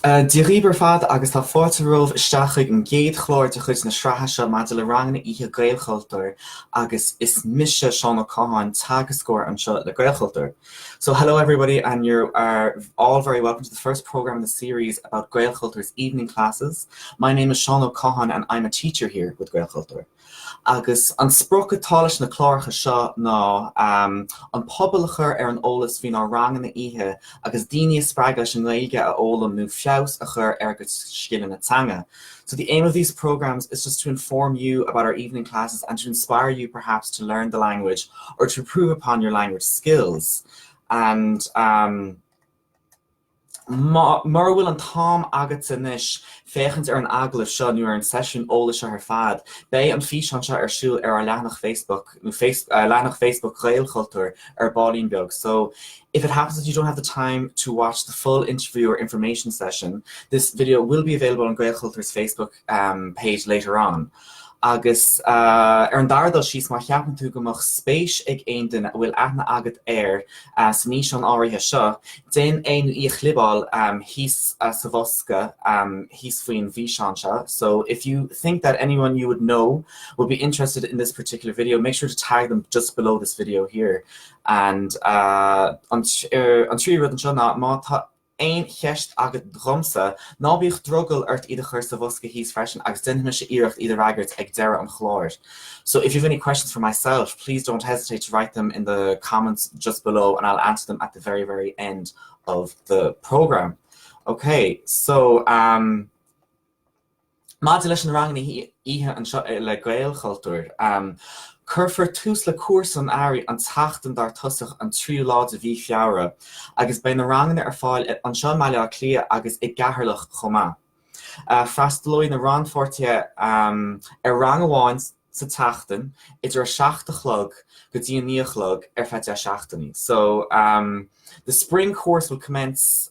Dia dhaoibh ar fad agus tá fáilte romhaibh isteach chuig an gcéad chlár de chuid na sraithe seo maidir le ranganna oíche Gaelchultúr agus is mise Seán Ó Catháin, teagascóir anseo le Gaelchultúr. So hello everybody and you're all very welcome to the first programme in the series about Gaelchultúr's evening classes. My name is Seán Ó Catháin and I'm a teacher here with Gaelchultúr. Agus an sprioc atá leis na cláracha seo ná an pobal a chur ar an eolas faoinár ranganna oíche agus daoine a spreagadh leis an nGaeilge a fhoghlaim nó feabhas a chur ar a gcuid scileanna teanga. So the aim of these programmes is just to inform you about our evening classes and to inspire you perhaps to learn the language or to improve upon your language skills. And um, Mura bhfuil an t-am agatsa anois féachaint ar an agallamh seo nó ar an seisiún eolais seo ar fad, beidh an físeán seo ar siúl ar ár leathanach Facebook, leathanach Facebook Ghaelchultúir, ar ballín beag. So, if it happens that you don't have the time to watch the full interview or information session, this video will be available on Gaelchultúr's Facebook page later on. Agus ar an dara dul síos, má cheapann tú go mbeadh spéis ag aon duine a bhfuil aithne agat air san fhíseán áirithe seo, déan é nó í a chlibeáil thíos sa bhosca thíos faoin bhfíseán seo, So, if you think that anyone you would know would be interested in this particular video, make sure to tag them just below this video here. And an tríú rud anseo ná, má tá aon cheist agat dhomsa, ná bíodh drogall ort iad a chur sa bhosca thíos freisin agus déanfaidh mise iarracht iad a fhreagairt ag deireadh an chláir So if you've any questions for myself, please don't hesitate to write them in the comments just below and I'll answer them at the very, very end of the programme. Okay, so, um, Maidir leis na ranganna oíche anseo le Gaelchultúr, cuirfear tús le cúrsa an earraigh an tseachtain dar tosach, an tríú lá de mhí Feabhra, agus beidh na ranganna ar fáil anseo i mBaile Átha Cliath agus i gCeatharlach chomh maith. Freastalóidh na rannpháirtithe ar rang amháin sa tseachtain idir a seacht a chlog go dtí a naoi a chlog ar feadh deich seachtainí. So, the spring course will commence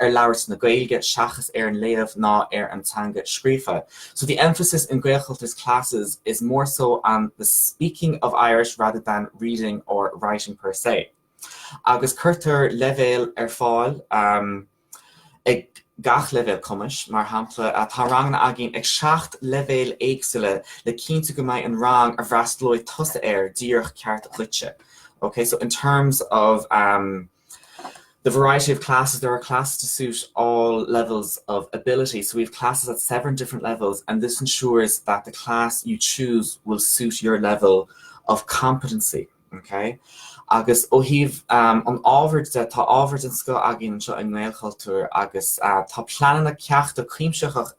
ar labhairt na Gaeilge seachas ar an léamh ná ar an teanga scríofa so the emphasis in Gaelchultúr's classes is more so on the speaking of Irish rather than reading or writing per se agus cuirtear leibhéil ar fáil um, ag gach leibhéal cumais, mar shampla tá ranganna againn ag seacht leibhéal éagsúla le cinntiú go mbeidh an rang a bhfreastalóidh tusa air díreach ceart duitse. Okay, so in terms of um, The variety of classes, there are classes to suit all levels of ability, so we have classes at seven different levels and this ensures that the class you choose will suit your level of competency. Ok. Agus ó thaobh an ábhair de, tá ábhair den scoth againn anseo i nGaelchultúr agus tá pleananna ceachta cuimsitheacha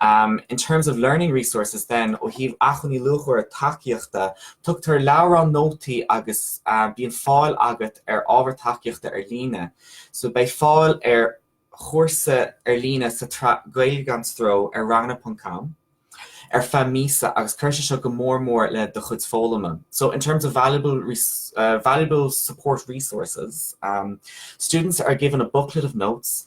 Um in terms of learning resources then, ó thaobh acmhainní luachmhara tacaíochta, tugtar leabhrán nótaí agus um bíonn fáil agat ar ábhar tacaíochta ar líne. So beidh fáil ar chúrsa ar líne sa tsraith Gaeilge gan Stró ar ranganna.com ar feadh míosa agus cuireann sé seo go mór mór le do chuid foghlama. So in terms of valuable, uh, valuable support resources, um, students are given a booklet of notes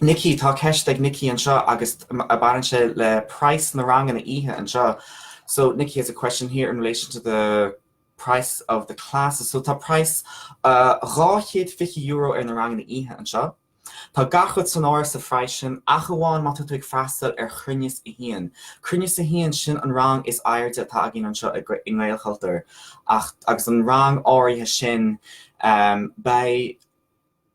Nicky, Tá ceist ag Nicky anseo agus a baineann sé le price na ranganna oíche anseo. So Nicky has a question here in relation to the price of the classes so tá price dhá chéad fiche euro ar na ranganna oíche anseo. Tá gach rud san áireamh sa phrice sin ach amháin má tá tú ag freastal ar chruinneas a haon. Cruinneas a haon, sin an rang is airde atá againn anseo i nGaelchultúr ach agus an rang áirithe sin beidh,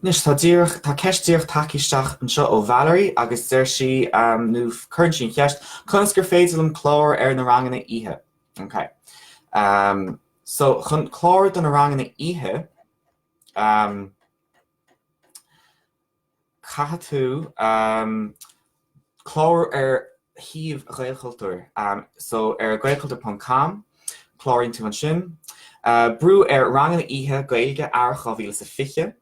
Anois, tá díreach, tá ceist díreach tagtha isteach anseo ó Valerie agus deir sí, nó cuireann sí an cheist, conas gur féidir liom clárú ar na ranganna oíche? Ok. Um, so, chun clárú do na ranganna oíche, um, Caithfidh tú clárú ar shuíomh Ghaelchultúir, so ar gaelchultur ponc com, cláraíonn tú ansin. Brú ar Ranganna Oíche Gaeilge Earrach 2020,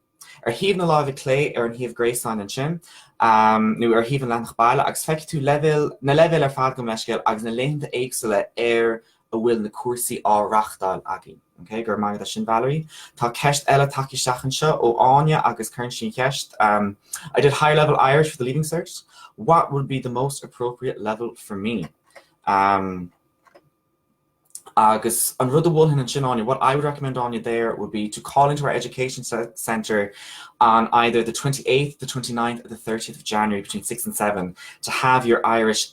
ar thaobh na láimhe clé, ar an shuíomh gréasáin ansin, nó ar thaobh an Leathanach Baile agus feicfidh tú leibhéal na leibhéil ar fad gabh mo leithscéal agus na laethanta éagsúla ar a bhfuil na cúrsaí á reachtáil againn. Okay, go raibh maith agat as sin Valerie. Tá ceist eile tagtha isteach anseo ó Áine agus cuireann sí an cheist um, I did high level Irish for the leaving cert. What would be the most appropriate level for me? Um, agus an rud a mholfainn ansin Áine, what I would recommend Áine there would be to call into our education center on either the 28th, the 29th, or the 30th of January between 6 and 7 to have your Irish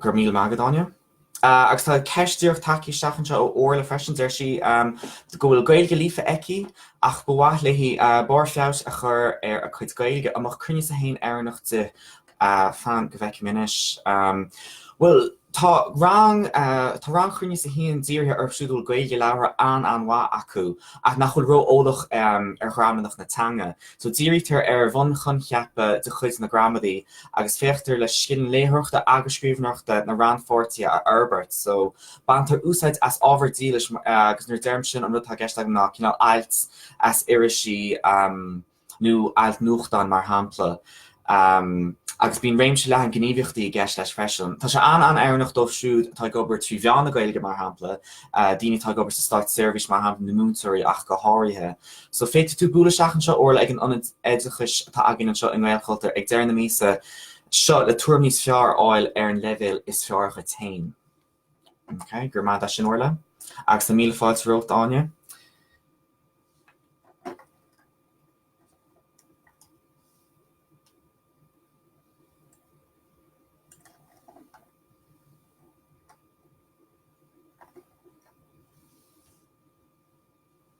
Go raibh míle maith agat, Áine. Agus tá ceist díreach tagtha isteach anseo ó Orla freisin. Deir sí go bhfuil Gaeilge líofa aici ach ba mhaith léi barr feabhais a chur ar a cuid Gaeilge. An mbeadh cruinneas 1 oiriúnach di? Fan go bhfeicim anois. Bhuel, tá rang, tá rang chruinneas a haon dírithe orthu siúd a bhfuil Gaeilge labhartha an-an-mhaith acu ach nach bhfuil ró-eolach ar ghramadach na teanga. So dírítear ar bhunchoincheapa de chuid na gramadaí agus féachtar le scileanna léitheoireachta agus scríbhneoireachta na rannpháirtithe a fhorbairt. So, baintear úsáid as ábhar dílis agus nuair a deirim sin an rud atá i gceist agam ná cineál ailt as irisí nó ailt nuachtáin mar shampla agus bíonn réimse leathan gníomhaíochtaí i gceist leis freisin. Tá sé an-an-oiriúnach dóibh siúd atá ag obair trí mheán na Gaeilge mar shampla, daoine atá ag obair sa státseirbhís mar shampla, nó múinteoirí ach go háirithe. So féadfaidh tú bualadh isteach anseo Orla ag an Ionad Oideachais atá againn anseo i nGaelchultúr ag deireadh na míosa seo le tuairim níos fearr a fháil ar an leibhéal is fearr duit féin. Okay, go raibh maith agat as sin Orla agus tá míle fáilte romhat Áine.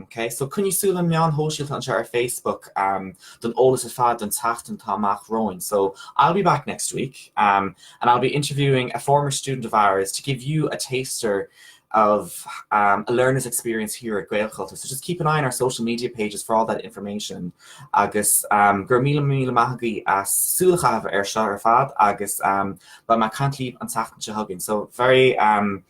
Ok, so coinnígí súil ar na meáin shóisialta anseo ar Facebook don eolas ar fad don tseachtain atá amach romhainn. So, I'll be back next week and I'll be interviewing a former student of ours to give you a taster of a learner's experience here at Gaelchultúr. So just keep an eye on our social media pages for all that information agus go raibh míle míle maith agaibh as súil a chaitheamh air seo ar fad agus beidh mé ag caint libh an tseachtain seo chugainn. So very, um.